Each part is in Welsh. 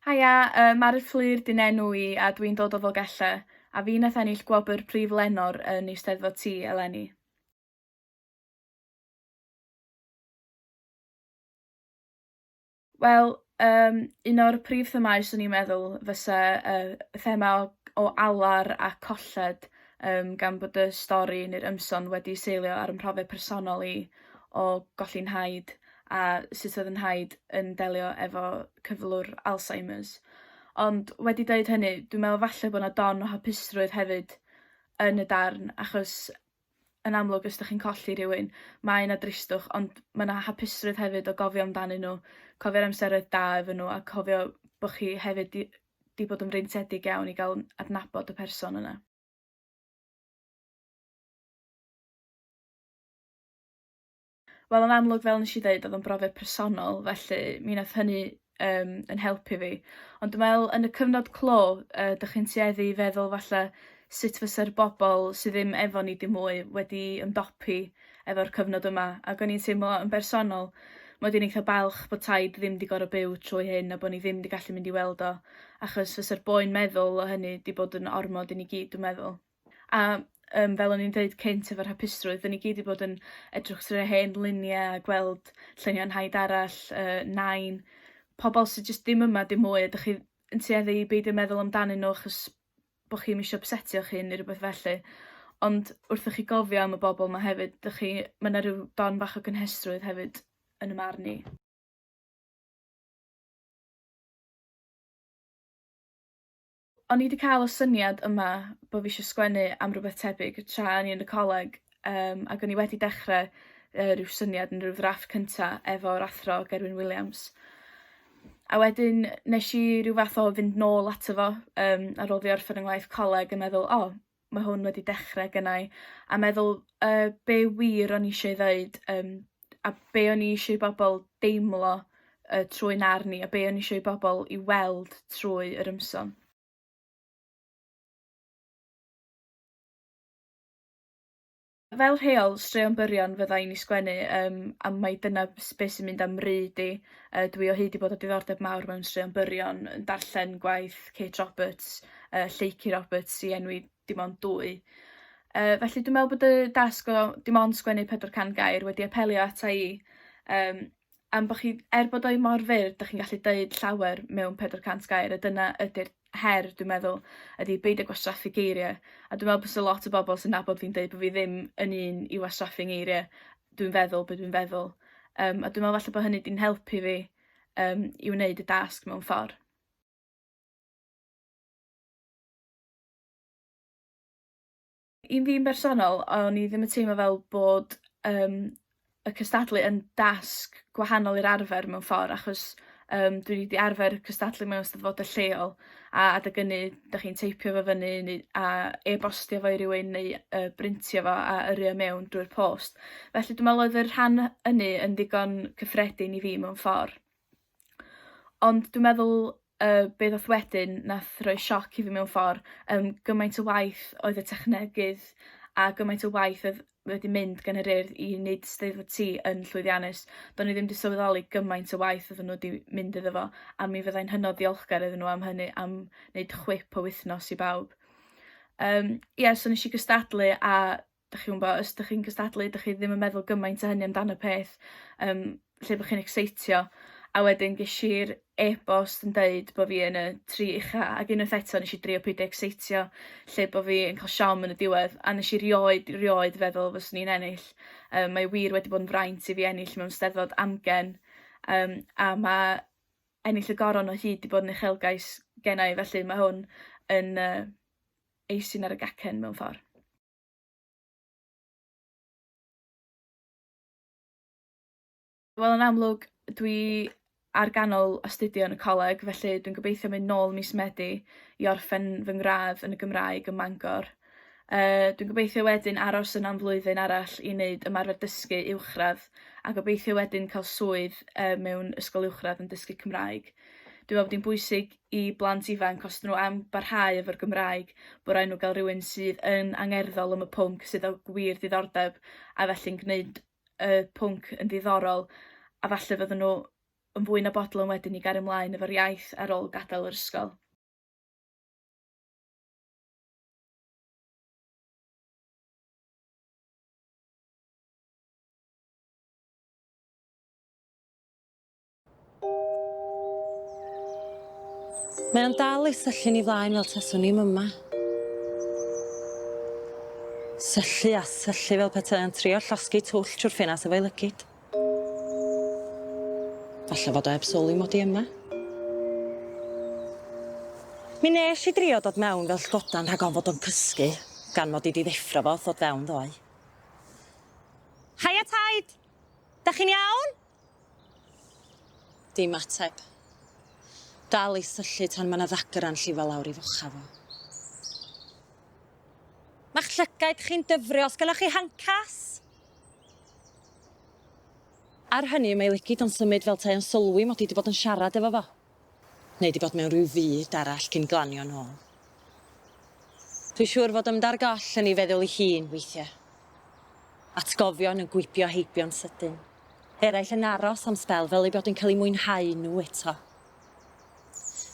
Haia, yy Mari Fflur 'di 'nenw i a dw i'n dod o Ddogella, a fi nath ennill gwobr Prif Lenor yn Eisteddfod Tŷ eleni. Wel yym un o'r prif themâu 'swn i'n meddwl fysa y y thema o o alar a colled yym gan bod y stori ne'r ymson wedi seilio ar 'y mhrofiad personol i o golli 'nhaid a sut oedd 'yn nhaid yn delio efo cyflwr Alzheimers. Ond wedi deud hynny dwi'n me'wl falle bo' 'na don o hapusrwydd hefyd yn y darn achos yn amlwg os dych chi'n colli rhywun mae 'na dristwch ond ma' 'na hapusrwydd hefyd o gofio amdanyn nhw, cofio'r amseroedd da efo nhw a cofio bo' chi hefyd 'di 'di bod yn freintiedig iawn i ga'l adnabod y person yna. Wel yn amlwg fel nesh i ddeud odd o'n brofiad personol felly mi nath hynny yym 'yn helpu fi ond dwi me'wl yn y cyfnod clo yy dych chi'n tueddu i feddwl falle sut fyse'r bobol sy ddim efo ni dim mwy wedi ymdopi efo'r cyfnod yma ag o'n i'n teimlo yn bersonol mod i'n eitha balch bod Taid ddim 'di gor'o' byw trwy hyn a bo' ni ddim 'di gallu mynd i weld o achos fyse'r boen meddwl o hynny 'di bod yn ormod i ni gyd dwi meddwl. A yym fel o'n i'n deud cynt efo'r hapusrwydd 'dyn ni gyd 'di bod yn edrych trwy hen lunie a gweld lluniau 'nhaid arall yy Nain pobol sy jyst ddim yma dim mwy a dych chi yn tueddu i beidio meddwl amdanyn nw achos bo' chi'm isio ypsetio'ch hun ne' rwbeth felly ond wrthoch chi gofio am y bobol 'ma hefyd dych chi ma' 'na ryw don bach o gynhestrwydd hefyd yn 'ym marn i. O'n i 'di ca'l y syniad yma bo' fi isio sgwennu am rwbeth tebyg tra o'n i yn y coleg yym ag o'n i wedi dechre yy ryw syniad yn ryw ddrafft cynta efo'r athro Gerwyn Williams. A wedyn nesh i ryw fath o fynd nôl ato fo yym ar ôl fi orffen 'yn ngwaith coleg yn meddwl o ma' hwn wedi dechre gynnai a meddwl yy be' wir o'n i isio 'i ddeud yym a be' o'n i isio i bobol deimlo yy trwy'n arn i a be' o'n i isio i bobol 'i weld trwy yr ymsom. Fel rheol straeon byrion fydda i'n 'u sgwennu yym a mai dyna b- s- be' sy'n mynd a'm mry d- i. Yy dwi o hyd 'di bod â diddordeb mawr mewn straeon byrion yn darllen gwaith Kate Roberts yy Lleucu Roberts i enwi dim ond dwy. Yy felly dwi me'wl bod y dasg o dim ond sgwennu pedwar can gair wedi apelio ata i yym am bo' chi... Er bod o 'i mor fyr 'dach chi'n gallu deud llawer mewn pedwar cant gair a dyna ydi'r her dwi'n meddwl ydi beidio gwastraffu geirie a dwi me'wl bysa lot o bobol sy'n nabod fi'n deud bo' fi ddim yn un i wastraffu ngeirie dwi'n feddwl be' dwi'n feddwl yym a dwi me'wl falle bo' hynny 'di'n helpu fi yym i wneud y dasg mewn ffor. I fi'n bersonol o'n i ddim yn teimlo fel bod yym y cystadlu yn dasg gwahanol i'r arfer mewn ffor achos yym dwi 'di arfer cystadlu mewn Eisteddfode lleol a adeg ynny dach chi'n teipio fo fyny neu a e-bostio fo i rywun neu yy brintio fo a yrru o mewn drwy'r post felly dwi me'wl oedd y rhan ynny yn ddigon cyffredin i fi mewn ffor. Ond dwi meddwl yy be' ddath wedyn nath roi sioc i fi mewn ffor yym gymaint o waith oedd y technegydd a gymaint o waith odd wedi mynd gan yr Urdd i neud 'Steddfod Ti yn llwyddiannus. Do'n i ddim 'di sylweddoli gymaint o waith oddan n'w 'di mynd iddo fo a mi fyddai'n hynod ddiolchgar iddyn nhw am hynny am neud chwip o wythnos i bawb. Yym ia so nesh i gystadlu a dach chi'n wbo os dych chi'n gystadlu dych chi ddim yn meddwl gymaint o hynny amdan y peth yym lle bo' chi'n ecseitio a wedyn gesh i'r e-bost yn deud bo' fi yn y tri ucha ag unwaith eto nesh i drio peidio ecseitio lle bo' fi yn ca'l siom yn y diwedd a nesh i rioed rioed feddwl fyswn i'n ennill yym mae wir wedi bod yn fraint i fi ennill mewn 'Steddfod amgen yym a ma' ennill y goron o hyd 'di bod yn uchelgais genna' i felly ma' hwn yn yy Eisin ar y gacen mewn ffordd. Wel yn amlwg dwi ar ganol astudio yn y coleg felly dwi'n gobeithio mynd nôl mis Medi i orffen fy ngradd yn y Gymraeg ym Mangor. Yy dwi'n gobeithio wedyn aros yn am flwyddyn arall i wneud ymarfer dysgu uwchradd a gobeithio wedyn cael swydd yy mewn ysgol uwchradd yn dysgu Cymraeg. Dwi'n meddwl bod hi'n bwysig i blant ifanc os 'dyn nhw am barhau efo'r Gymraeg bo' raid nhw ga'l rywun sydd yn angerddol am y pwnc sydd â gwir diddordeb a felly'n gneud y pwnc yn ddiddorol a falle fydden nhw yn fwy na bodlon wedyn i gario mlaen efo'r iaith ar ôl gadael yr ysgol. Mae o'n dal ei syllu ni flaen fel taswn i'm yma. Syllu a syllu fel petai o'n trio llosgi twll trwy'r ffenas efo'i lygid. Falle fod o heb sylwi mod i yma. Mi nes i drio dod mewn fel llgodan rhag ofn fod o'n cysgu, gan mod i di ddeffro fo wrth ddod fewn ddoe. Haia Taid! Da chi'n iawn? Dim ateb. Dal i syllu tan mae 'na ddagr a'n llifo lawr i focha fo. Ma'ch llygaid chi'n dyfrio, os gynnoch chi handcuffs? Ar hynny, mae ei lygid o'n symud fel 'tai o'n sylwi mod i 'di bod yn siarad efo fo. Neu 'di bod mewn rhyw fyd arall cyn glanio nôl. Dwi'n siŵr fod ymdar goll yn ei feddwl ei hun weithiau. Atgofion yn gwibio heibio'n sydyn. Eraill yn aros am sbel fel eu bod yn cael eu mwynhau nhw eto.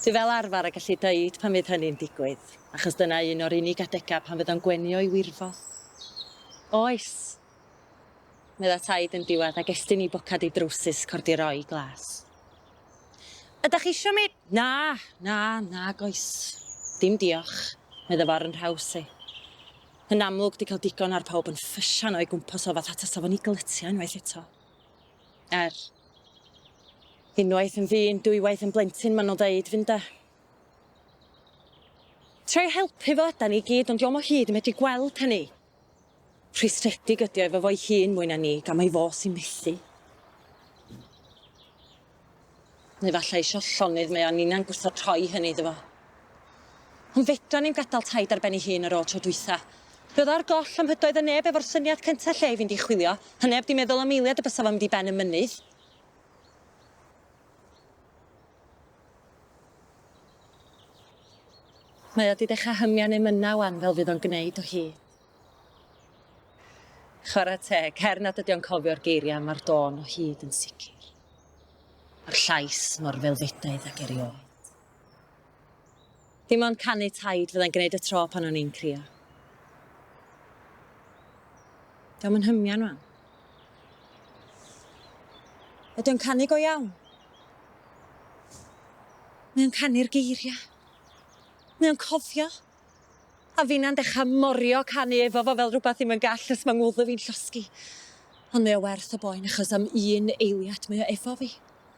Dwi fel arfer y gallu dweud pan fydd hynny'n digwydd, achos dyna un o'r unig adegau pan fydd o'n gwenio i wirfodd. Oes! Medda Taid yn diwedd ac estyn i bocad ei drowsus cordiro'i glas. Ydach chi isio mi? Na, na, nag oes. Dim diolch, medda fo ar yn nhraws i. Yn amlwg, di cael digon ar pawb yn ffysian o'i gwmpas o fatha tasa fo'n i glytia unwaith eto. Er, unwaith yn ddyn, dwywaith yn blentyn, maen nhw'n ddeud, fynde? Troi helpu fo ydan ni gyd, ond dio'm o hyd yn medru gweld hynny. Rhwystredig ydi o efo fo'i hun mwy na ni, gan mai fo sy'n methu. Neu falla isio llonydd mae o a ninna'n gwrthod rhoi hynny iddo fo. Ond fedran ni'm gadal Taid ar ben ei hun ar ôl tro dwytha. Fe o'dd ar goll a mhydoedd y neb efo'r syniad cynta lle i fynd i chwilio, a neb di meddwl am eiliad y bysa fo'n mynd i ben y mynydd. Mae o 'di dechra hymian emyna wan fel fydd o'n gneud o hi. Chwara teg, her nad ydi o'n cofio'r geiria ma'r dôn o hyd yn sicr. A'r llais mor felfedaidd ag erioed. Dim ond canu taid fyddai'n gwneud y tro pan o'n i'n crio. Dio'm yn hymian, mam. Ydy o'n canu go iawn? Mae o'n canu'r geiriau. Mae o'n cofio. A finna'n dechrau morio canu efo fo fel rhywbeth ddim yn gall os mae ngwddw fi'n llosgi. Ond mae o werth y boen achos am un eiliad mae o efo fi.